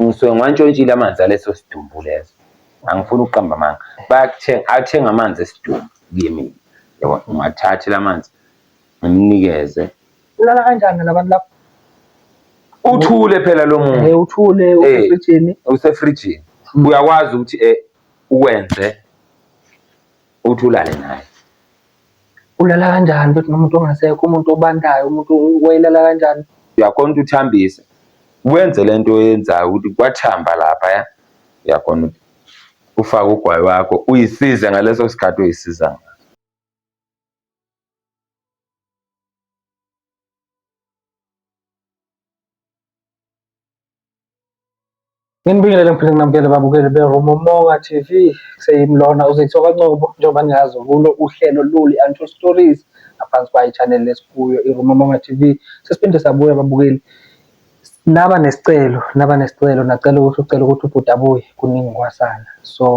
ngisuke ngiwantshontshile amanzi aleso sidumbu leso angifuni ukuqamba amanga bayakuthenga athenga amanzi esidumbu kuye mina yabo ngiwathathe la manzi ngimnikeze ulala kanjani labantu lapho uthule phela lo muntu eh uthule eh, usefrijini usefrijini uyakwazi ukuthi eh uwenze uthi ulale naye ulala kanjani ukuthi nomuntu ongasekho umuntu obandayo umuntu wayelala kanjani uyakhona ukuthi uthambise wenze le nto oyenzayo ukuthi kwathamba lapha ya uyakhona ukuthi ufake ugwayi wakho uyisize ngaleso sikhathi uyisiza ngayo Nginibingelele ngiphinde nginamukele babukeli beRumomonga TV seyimlona uZitho kaNcobo njengoba niyazi kulo uhlelo luli Untold Stories ngaphansi kwayo channel lesikuyo iRumomonga TV sesiphinde sabuya babukeli naba nesicelo naba nesicelo nacela ukuthi ucela ukuthi ubhuti abuye kuningi kwasana so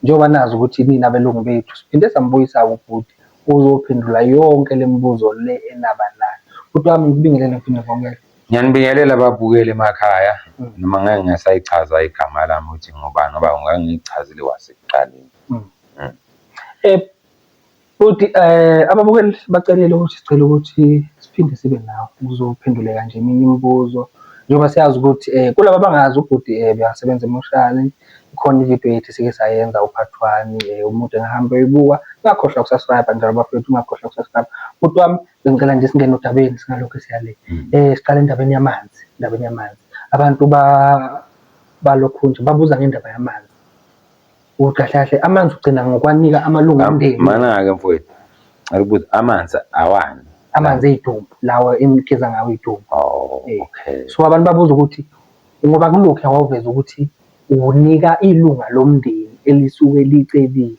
njengoba nazi ukuthi nina belungu bethu siphinde sambuyisa ubhuti uzophendula yonke lemibuzo le enaba nayo bhuti wami ngibingelele ngiphinde ngibongele Ngiyanibingelela babukeli emakhaya mm. noma ngeke ngisayichaza igama lami ukuthi ngubani ngoba ngangiyichazile kwasekuqaleni mm. mm. eh futhi eh ababukeli bacelile ukuthi sicela ukuthi siphinde sibe nawo uzophendule kanje eminye imibuzo njengoba siyazi ukuthi eh kulabo abangazi ubhuti eh uyasebenza emoshali khona ivideo yethu sike sayenza uphathi wami eh, umuntu engahamba eyibuka ngakhohlwa ukusubscribe njalo bafethu ungakhohlwa ukusubscribe bhuti wami Bengicela nje singene odabeni singalokhu siyale. Mm. Eh siqale endabeni yamanzi, endabeni yamanzi. Abantu ba balokhu nje babuza ngendaba yamanzi. Ukuthi kahle kahle amanzi ugcina ngokwanika amalungu omndeni. Mana ke mfowethu. Ngikubuza amanzi awani? Amanzi eyitumbu lawa enigeza ngawo iyitumbu. Oh, eh. okay. So abantu babuza ukuthi Ngoba kulokhuya wawuveza ukuthi uwunika ilunga lomndeni elisuke licebile.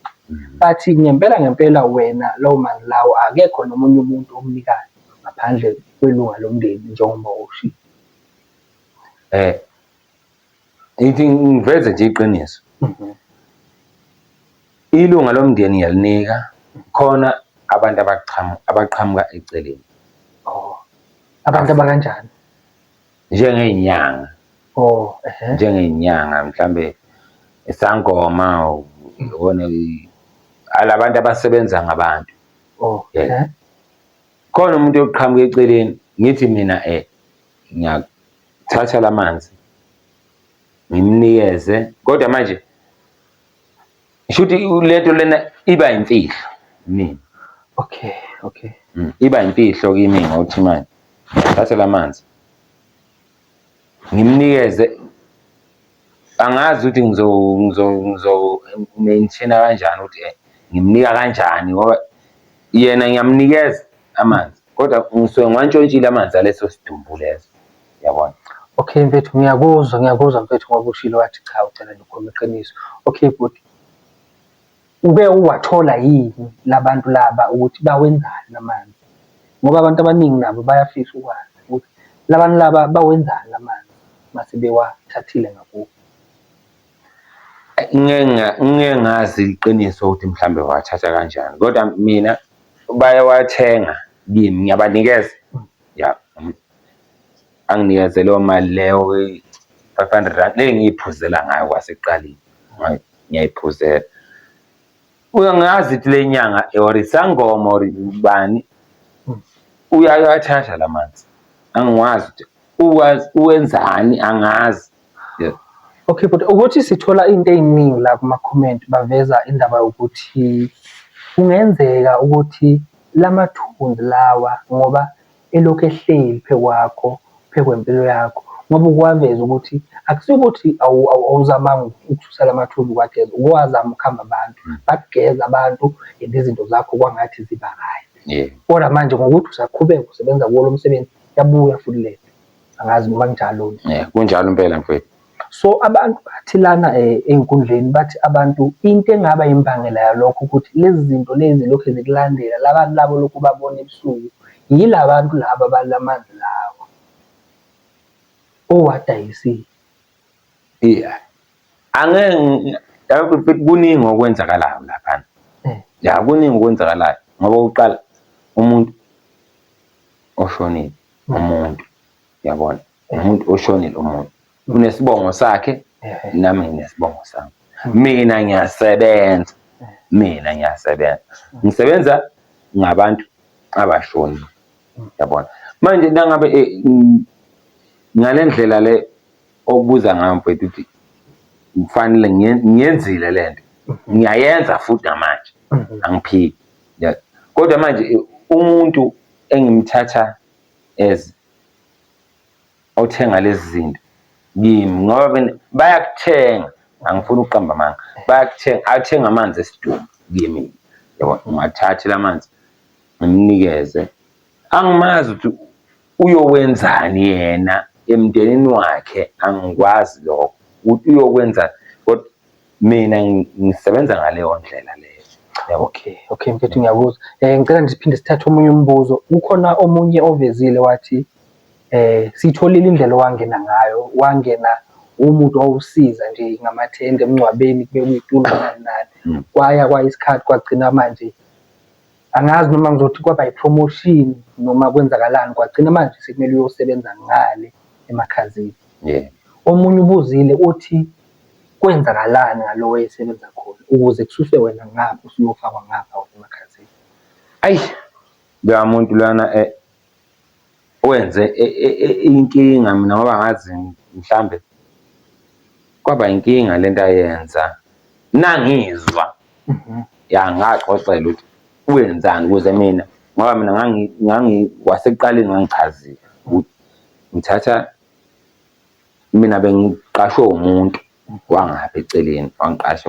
But ngempela ngempela wena lawo manzi lawo akekho nomunye umuntu omnikayo ngaphandle kwelunga lomndeni njengoba ushilo. Eh ngithi ngiveze nje iqiniso. Mhm. Ilunga lomndeni ngiyalinika khona abantu abaqhamuka abaqhamuka eceleni. Oh. Abantu abakanjani? njengey'nyanga oh ehe njengey'nyanga mhlambe isangoma ubone alabantu abasebenza ngabantu oh Yes. ehe khona umuntu oqhamuka eceleni ngithi mina eh ngiyathatha lamanzi ngimnikeze kodwa manje Ngisho ukuthi lento lena iba imfihlo mina. Okay, okay. Mm, iba imfihlo kimi ngokuthi manje thathe lamanzi. Ngimnikeze angazi ukuthi ngizo ngizo ngizo maintain kanjani ukuthi eh, ngimnika kanjani ngoba yena ngiyamnikeza amanzi kodwa ngisuke ngiwantshontshile amanzi aleso sidumbu leso. yabona okay mfethu ngiyakuzwa ngiyakuzwa mfethu ngoba ushilo wathi cha ucela nje ukhuluma iqiniso okay bhuti uke uwathola yini labantu laba ukuthi bawenzani lamanzi ngoba abantu abaningi nabo bayafisa ukwazi ukuthi labantu laba bawenzani lamanzi mase bewathathile ngakubo ngeke ngazi iqiniso ukuthi mhlambe wathatha kanjani kodwa mina bayawathenga kimi ngiyabanikeza ya anginikeze leyo mali leyo five hundred rand le ngiyiphuzela ngayo kwasekuqaleni ngiyayiphuzela uyo ngazi ukuthi le nyanga or isangoma or ubani uyayathatha la manzi angiwazi ukuthi uwenzani angazi yeah Okay but ukuthi sithola into eziningi la kuma comment baveza indaba yokuthi kungenzeka ukuthi lamathunzi lawa ngoba elokhu ehleli phekwakho phekwempilo yakho ngoba ukwaveza ukuthi akusikuthi awuzamanga ukususa lamathunzi kwageza ukwazama ukuhamba abantu mm. bageza abantu and izinto zakho kwangathi ziba right kodwa manje ngokuthi usaqhubeka usebenza kuwo lo msebenzi yabuya futhi le angazi noma kunjalo yeah kunjalo impela mfethu so abantu bathi lana eh, enkundleni bathi abantu into engaba imbangela yalokho ukuthi lezi zinto lezi lokhu zikulandela labantu labo lokhu babona ebusuku yilabantu laba balamanzi lawo owadayisile yeah angeke yabona mfethu kuningi okwenzakalayo lapha eh. ya kuningi okwenzakalayo ngoba uqala umuntu oshonile umuntu yabona umuntu oshonile umuntu unesibongo sakhe nami nginesibongo sami mina ngiyasebenza mina ngiyasebenza ngisebenza ngabantu abashoni yabona manje nangabe eh, ngale ndlela le obuza ngayo mfethu ukuthi ngifanele ngiyenzile le nto ngiyayenza futhi namanje angiphiki kodwa manje eh, umuntu engimthatha as othenga lezi zinto kimi ngoba bayakuthenga angifuni ukuqamba amanga bayakuthenga athenga amanzi esidumbu kimi yabo ngiwathathe la manzi ngimnikeze angimazi ukuthi uyowenzani yena emndenini wakhe angikwazi lokho ukuthi uyokwenzani kodwa mina ngisebenza ngaleyo ndlela leyo yabo okay okay mfethu ngiyakuzwa eh ngicela nisiphinde sithathe omunye umbuzo ukhona omunye ovezile wathi eh sitholile indlela owangena ngayo wangena umuntu owusiza nje ngamathende emngcwabeni kube kuyitulo nani nani hmm. kwaya kwayisikhathi kwagcina manje angazi noma ngizothi kwaba i-promotion noma kwenzakalani kwagcina manje sekumele uyosebenza ngale emakhazini yeah. omunye ubuzile uthi kwenzakalani ngalo wayesebenza khona ukuze kususwe wena ngapha usuyofakwa ngapha wena emakhazini ayi loya muntu lana eh, Wenze inkinga mina ngoba ngazi mhlambe kwaba inkinga le nto ayenza. Nangizwa ya ngaxoxelwa ukuthi wenzani ukuze mina ngoba mina kwasekuqaleni ngangichazile ukuthi ngithatha mina bengiqashwe umuntu wangapha eceleni wangiqasha .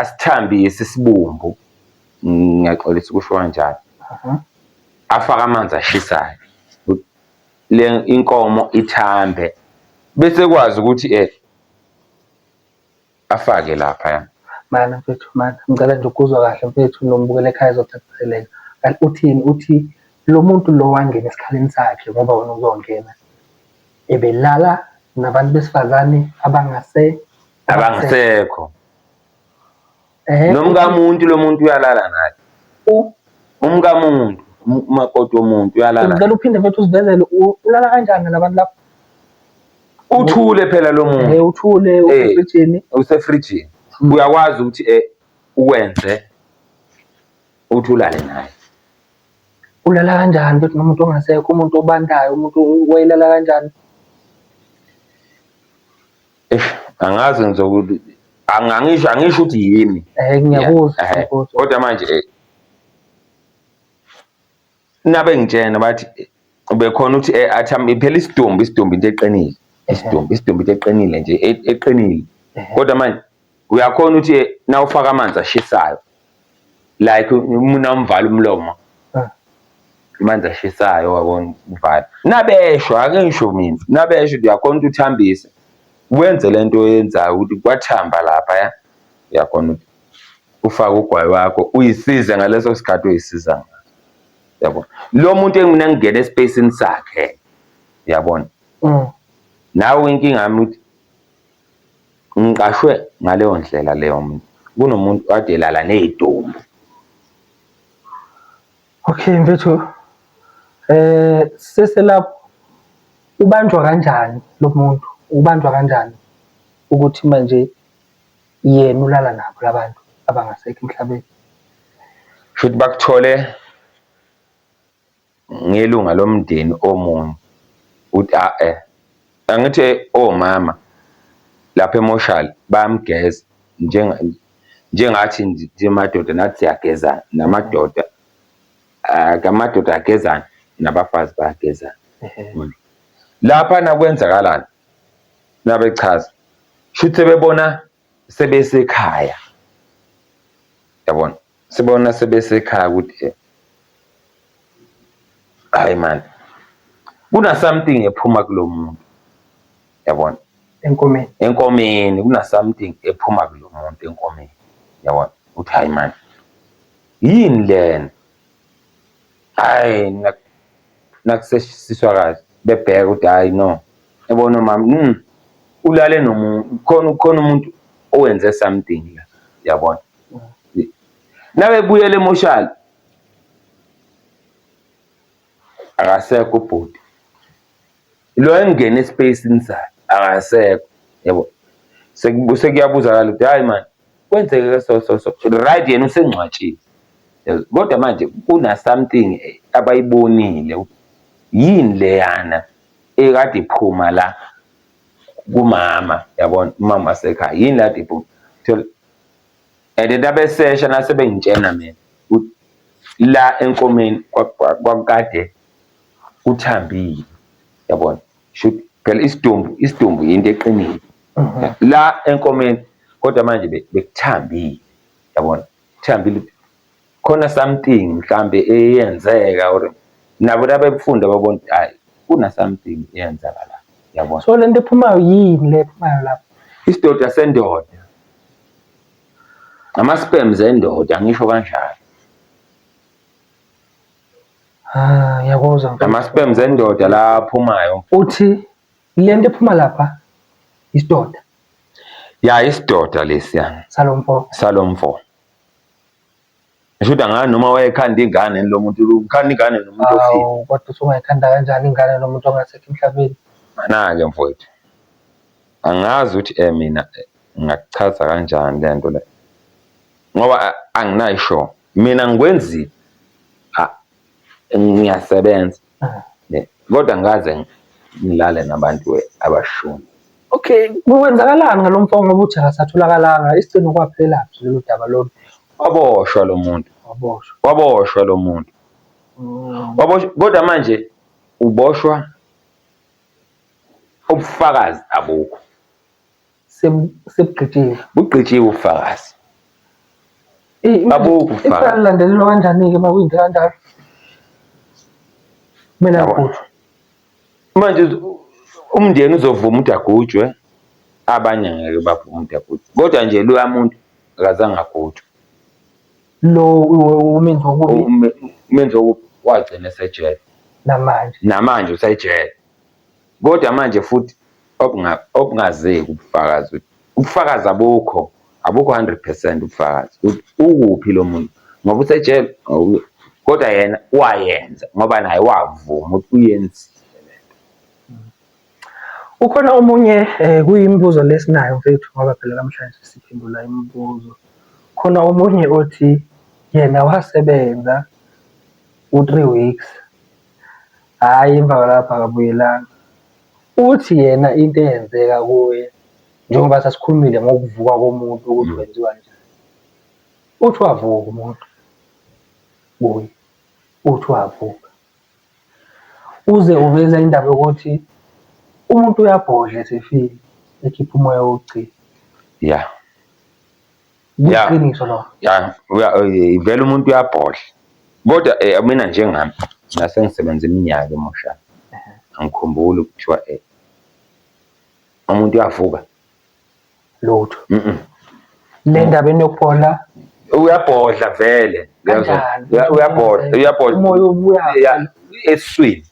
asithambise isibumbu ngiyaxolisa ukusho kanjalo mhm. afake amanzi ashisayo le inkomo ithambe bese kwazi ukuthi eh afake lapha mana mfethu mana ngicela nje ukuzwa kahle mfethu nombukele ekhaya ezocaciseleka kanti uthini uthi lo muntu lo wangena esikhaleni sakhe ngoba wena uzongena ebelala nabantu besifazane abangase abangasekho eh, nomkamuntu lo muntu uyalala naye umkamuntu umakoti womuntu uyalala ngicela uphinde futhi usivezele ulala kanjani nabantu lapho uthule phela lo muntu eh uthule eh, usefrijini usefrijini hmm. uyakwazi ukuthi eh uwenze uthulale naye ulala kanjani futhi nomuntu ongasekho umuntu obandayo umuntu wayelala kanjani Eish, angazi ngizokuthi ang- angisho angisho ukuthi yimi Eh ngiyakuzwa Yeah, eh, ngiyakuzwa. kodwa manje eh, nabe ngitshena bathi eh, bekhona ukuthi eh, athi am- phela isidumbu isidumbu into eqinile isidumbu isidumbu into eqinile nje e- eqinile Ehhe. kodwa manje uyakhona ukuthi eh, na ufaka amanzi ashisayo like umuna umvala umlomo ah. amanzi ashisayo wabona uvala nabesho ake ngisho mina nabesho uyakhona ukuthi uthambise wenze lento oyenzayo ukuthi kwathamba lapha ya uyakhona ukuthi ufake ugwayi wakho uyisize ngaleso sikhathi uyisiza ngaso yabo lo muntu engimina ngingena espacini sakhe yabona mm. nawe inkinga yami ukuthi Ngiqashwe ngaleyo ndlela leyo mina. Kunomuntu kade elala ney'dumbu. Okay mfethu, eh siselapho ubanjwa kanjani lo muntu? Ubanjwa kanjani ukuthi manje yena ulala nabo la bantu abangasekho emhlabeni? Shuthi bakuthole ngelunga lomndeni omunye ukuthi a-e angithi omama lapha emoshali bayamgeza njengathi nje madoda nathi siyagezana namadoda amadoda agezana nabafazi bayagezana. Laphana kwenzakalani? Nabechaza, shuthi sebebona sebesekhaya yabona sibona sebesekhaya ukuthi eh, hayi mani kuna something ephuma kulo muntu yabona enkomeni enkomeni kuna something ephuma kulo muntu enkomeni yabona uthi hayi mani yini lena hayi nak- nakuseshisiswa kahle bebheka ukuthi hayi no yabona mama mm, ulale nomuntu khona khona umuntu owenze something la yabona nabebuyela emoshali akasekho ubhuti lo engena espacini sakhe akasekho yabo Seku- sekuyabuzakala ukuthi hayi mani kwenzeke ke so so so right yena usengcwatshile Yabo, kodwa manje kuna something eh, abayibonile ukuthi yini leyana ekade iphuma la kumama yabona umama wasekhaya yini la kade iphuma Thola- and then abesesha nasebengitshena mina ukuthi la enkomeni kwa- kwa- kwakukade uthambile yabona shuthi phela isidumbu isidumbu yinto eqinile la enkomeni kodwa manje be- bekuthambile yabona kuthambile khona something mhlambe eyenzeka or nabo nabebufunda babona ukuthi hayi kuna something eyenzeka la yabona so lento ephumayo yini le ephumayo lapho isidoda sendoda ama-sperms endoda ngisho kanjalo Ah, ngiyakuzwa mfana. Ama-sperms endoda la aphumayo. Uthi le nto ephuma lapha isidoda. Ya isidoda lesiya. Salomfo. Salomfo. Ngisho ukuthi angani noma wayekhanda ingane lo muntu ukhanda ingane nomuntu ofile. Awu kodwa usungayikhanda kanjani ingane nomuntu ongasekho emhlabeni? Mana-ke mfowethu. Angazi ukuthi eh mina eh, ngakuchaza kanjani le nto le. ngoba anginayo show mina ngikwenzi ngiyasebenza kodwa ngaze ngilale nabantu abashuni okay kwenzakalani ngalo mfo ngoba uthi akasatholakalanga isigcino kwaphela phi lolu daba lolu waboshwa lo muntu waboshwa waboshwa lo muntu mm. waboshwa kodwa manje uboshwa ubufakazi abukho sebugqitshiwe bugqitshiwe ubufakazi babukho ubufakazi ilandelelwa kanjani-ke uma kuyinto kanjalo kumele agujwe manje umndeni uzovuma ukuthi agujwe abanye ngeke bavume ukuthi agujwe kodwa nje loya muntu akazange agujwe lo umenzi wokubi umenzi wokubi wagcina esejele namanje namanje usejele Kodwa manje futhi obungazeki ubufakazi ukuthi ubufakazi abukho abukho 100 percent ubufakazi ukuthi ukuphi lo muntu ngoba usejele kodwa yena wayenza ngoba naye wavuma ukuthi uyenzile Ukhona omunye eh, kuyimibuzo lesinayo mfethu ngoba phela namhlanje siphendula imibuzo. Khona omunye othi yena wasebenza u-three weeks hhayi emva kwalapho akabuyelanga uthi yena into eyenzeka kuye njengoba sasikhulumile ngokuvuka komuntu ukuthi wenziwa njani uthi wavuka umuntu kuye uthi wavuka uze uveza indaba yokuthi umuntu uyabhodla esefile ekhipha umoya wokugcina ya Yeah. Iqiniso lo. ya uya- eh, vele umuntu uyabhodla kodwa eh, mina njengami ngase ngisebenza iminyaka emusha angikhumbuli kuthiwa eh, umuntu uyavuka Lutho. Mhm. Le ndaba enokuphola uyabhodla vele uyazwa? Kanjani? Uya- uyabhodla uyabhodla Umoya ubuya. Ya, eswini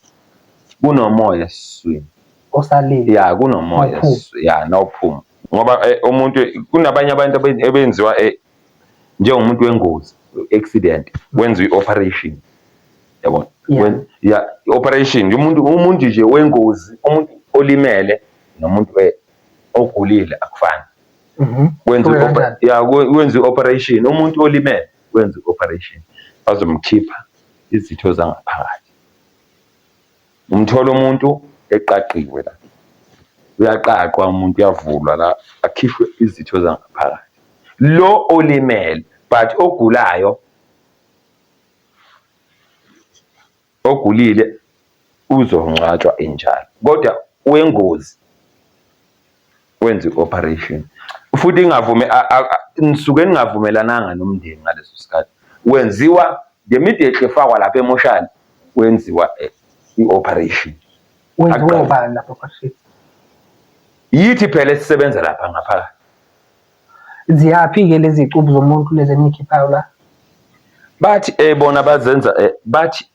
kunomoya eswini osalile ya kunomoya Awuphumi. s- ya nawuphuma ngoba eh, umuntu kunabanye abantu abe- ebenziwa eh, njengomuntu wengozi accident wenziwa i-operation yabona Yeah. Wen- ya i-operation nje umuntu umuntu nje wengozi umuntu olimele nomuntu eh, ogulile akufani Mhm. wenza Kuke i-oper- kanjani? ya kwe- wenza i-operation umuntu olimele wenza i-operation bazomkhipha izitho zangaphakathi Umthola umuntu eqaqiwe la, uyaqaqwa umuntu uyavulwa la, akhishwe izitho zangaphakathi. Lo olimele but ogulayo ogulile uzongcwatshwa enjalo, kodwa wengozi wenza i-operation futhi ingavume nisuke ningavumelananga nomndeni ngaleso sikhathi wenziwa ngemidehle efakwa lapha emoshali wenziwa eh, i-operation yithi phela esisebenza lapha ngaphakathi ziyaphi-ke lezi cubu zomuntu lezi enikhiphayo la bathi eh bona bazenza eh, bathi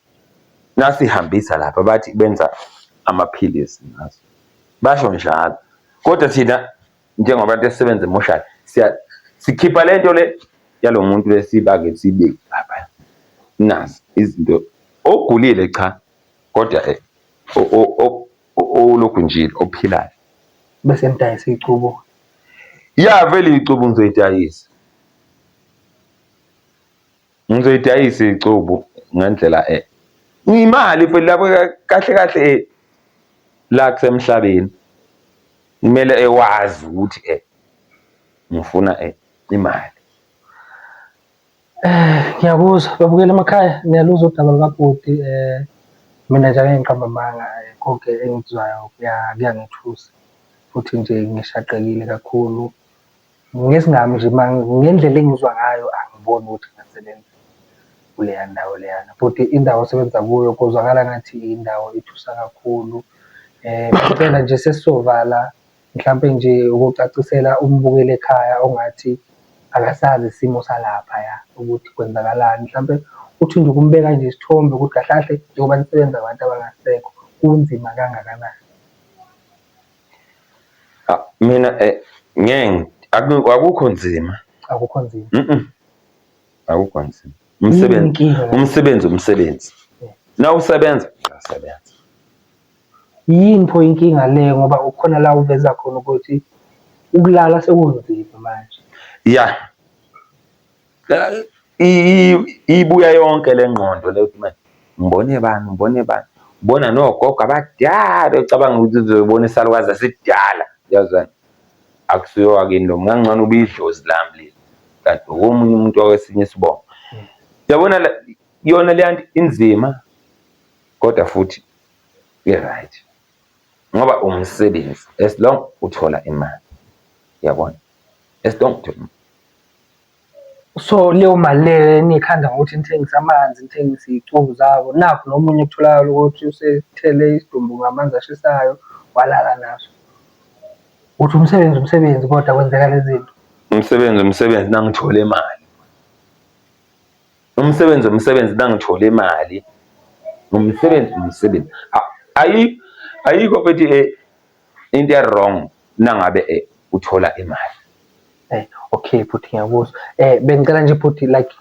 nasihambisa lapha bathi benza amaphilisi ngazo basho njalo kodwa thina njengabantu esisebenza emoshali siya sikhipha lento le yalomuntu lesibake sibeke lapha nazi izinto ogulile cha kodwa eh, olokhu njile ophilayo bese nidayisa icubo ya vele icubo ngizoyidayisa Ngizoyidayisa icubu ngendlela e ngimali futhi lapho kahle kahle e la kusemhlabeni kumele ewazi ukuthi e ngifuna e imali. Eh ngiyakuzwa babukela emakhaya ngiyaluzwa udaba lukabhuti eh mina nje angeke ngiqamba amanga eh, konke engikuzwayo kuyangethusa futhi nje ngishaqekile kakhulu. Ngesingami nje ngendlela engizwa ngayo angiboni ukuthi ingasebenza kuleya ndawo leyana futhi indawo osebenza kuyo kuzwakala ngathi indawo ethusa kakhulu. Impela nje sesizovala mhlampe nje ukucacisela umbukeli ekhaya ongathi akasazi isimo salaphaya ukuthi kwenzakalani. Mhlampe uthi nje ukumbeka nje isithombe ukuthi kahle kahle njengoba nisebenza ngabantu abangasekho kunzima kangakanani. Ah, mina eh ngeke aku- akukho nzima akukho nzima Mm-mm. akukho nzima umsebenzi Inkinga. umsebenzi umsebenzi na usebenza uyasebenza yini pho inkinga le ngoba ukhona la uveza khona ukuthi ukulala sekunzima manje ya ibuya yonke le ngqondo le ukuthi manje ngibone bani ngibone bani ubona nogogo abadala ocabanga ukuthi uzoyibona isalukazi asidala yazwani akusuye wakini lo ngangcono ubidlozi lami leli kanti omunye umuntu wawesinye isibongo yabona yona le nto inzima kodwa futhi i-right ngoba umsebenzi as long uthola imali yabona as long uthola imali So leyo mali leyo eniyikhanda ngokuthi nithengise amanzi, nithengise iy'cubu zabo, nakhu nomunye kutholakala ukuthi usethele isidumbu ngamanzi ashisayo walala naso. Uthi umsebenzi umsebenzi kodwa kwenzeka lezi zinto. Umsebenzi umsebenzi nangithole imali. Umsebenzi umsebenzi nangithole imali. Umsebenzi umsebenzi. Ayi, ayikho mfethu . into ewrong nangabe eh, uthola imali eh, okay bhuti ngiyakuzwa eh bengicela nje bhuti like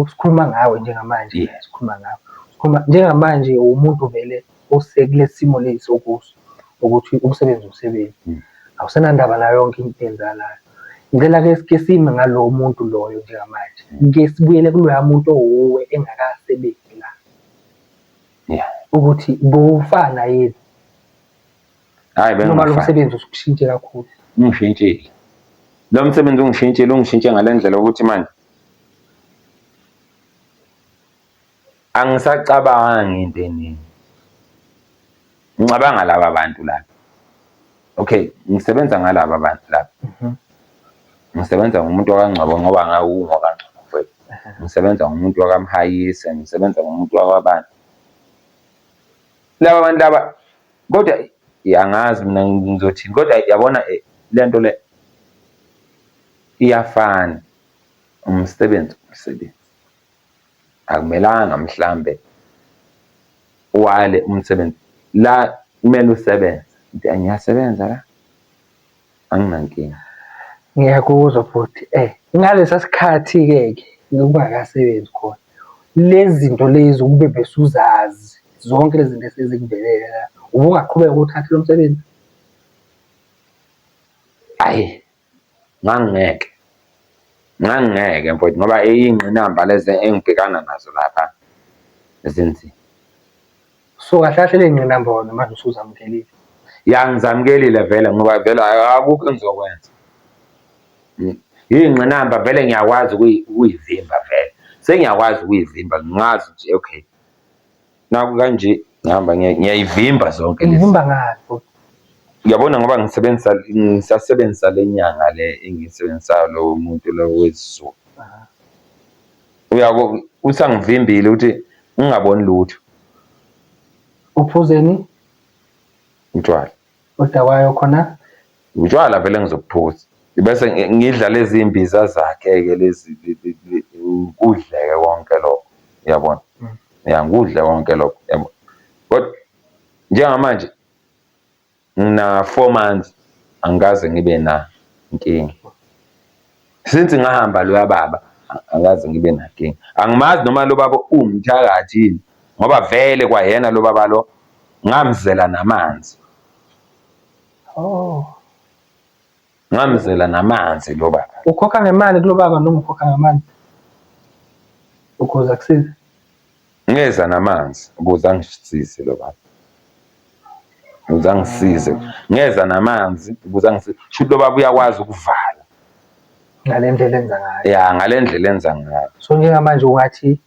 sikhuluma ngawe njengamanje yeah. sikhuluma ngawe sikhuluma njengamanje umuntu vele osekulesimo lesi okuso ukuthi umsebenzi umsebenzi mm. awusenandaba nayo yonke into enzalayo ngicela ke sike sime ngalowo muntu loyo njengamanje mm. ke sibuyele kuloya muntu owuwe engakasebenzi yeah ukuthi bufana yini hayi noma lo msebenzi usukushintshe kakhulu ungishintshile lo msebenzi ungishintshile ungishintshe ngale ndlela ukuthi manje angisacabangi into eningi ngicabanga laba bantu laba okay ngisebenza ngalaba bantu laba mhm. ngisebenza ngomuntu wakangcwabo ngoba ngawungokangcwabo mfowethu mhm. ngisebenza ngomuntu wakamhayise ngisebenza ngomuntu wakwabantu laba bantu laba kodwa angazi mina ngizothini kodwa yabona eh, le nto le iyafana umsebenzi umsebenzi Akumelanga mhlambe uwale umsebenzi la kumele usebenze uthi ngiyasebenza la anginankinga. Ngiyakuzwa bhuti ngalesa sikhathi-ke ke nokungakasebenzi khona lezi zinto lezi ukube besuzazi zonke lezi zinto esezikuvelele la ubungaqhubeka uthathe lo msebenzi? Ayi Ngangingeke, ngangingeke mfwethu ngoba iy'ngqinamba lezi engibhekana nazo lapha zinzima. So kahle kahle ley'ngqinamba wena manje usuzamukelile? Ya ngizamukelile vele ngoba vele akukho engizokwenza. Iy'ngqinamba vele ngiyakwazi ukuyivimba vele, sengiyakwazi ukuyivimba ngazi ukuthi okay. naku kanje ngihamba ngiya- ngiyayivimba zonke lezi Ngihamba ngani futhi? uyabona ngoba ngisebenzisa ngisasebenzisa le nyanga le engiyisebenzisayo lowo muntu lowo wezizulu Aha. uyabo usangivimbile ukuthi ungaboni lutho Uphuzeni? utshwala Odakwayo khona. Utshwala vele ngizobuphuza. Ngibese ngidla lezi mbiza zakhe-ke lezi ngikudleke konke lokho uyabona. Mm. Ya ngikudle konke lokho uyabona. Kodwa njengamanje ngina four months angikaze ngibe na nkinga. since ngahamba loya baba angazi ngibe nakinga angimazi noma lo baba uwumthakathi yini ngoba vele kwayena lo baba lo ngamzela namanzi oh ngamzela namanzi lo baba ukhokha ngemali kulo baba noma ukhokha ngamandla ukuze akusize Ngeza namanzi ukuze angisize lo baba. Ukuze angisize. Ngeza namanzi ukuze angisize. Shuthi lo baba uyakwazi ukuvala. Ngale ndlela enza ngayo. Ya, ngale ndlela enza ngayo. So njengamanje ungathi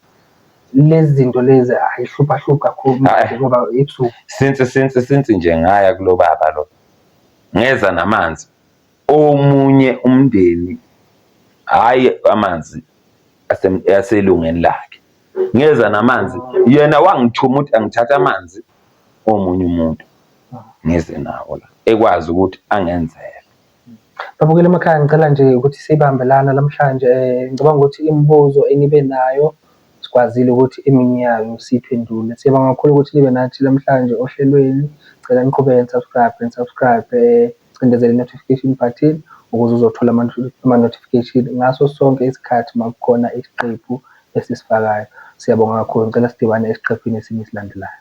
lezi zinto lezi ayihlupha hlupha kakhulu ngoba ebusuku. Since since since nje ngaya kulo baba lo. Ngeza namanzi Omunye umndeni hhayi amanzi aselungeni lakhe ngeza namanzi yena wangithuma ukuthi angithathe amanzi omunye umuntu ngize nawo la ekwazi ukuthi angenzele. Babukeli emakhaya ngicela nje ukuthi sibambe lana namhlanje um ngicabanga ukuthi imibuzo enibe nayo Sikwazile ukuthi eminye yayo siyiphendule. Siyabonga kakhulu ukuthi nibe nathi namhlanje ohlelweni. Cela niqhubeke nisubscribe nisubscribe cindezela i-notification button ukuze uzothola ama-notification ngaso sonke isikhathi uma kukhona isiqephu esisifakayo. Siyabonga kakhulu. Ngicela sidibane esiqephini esinye esilandelayo.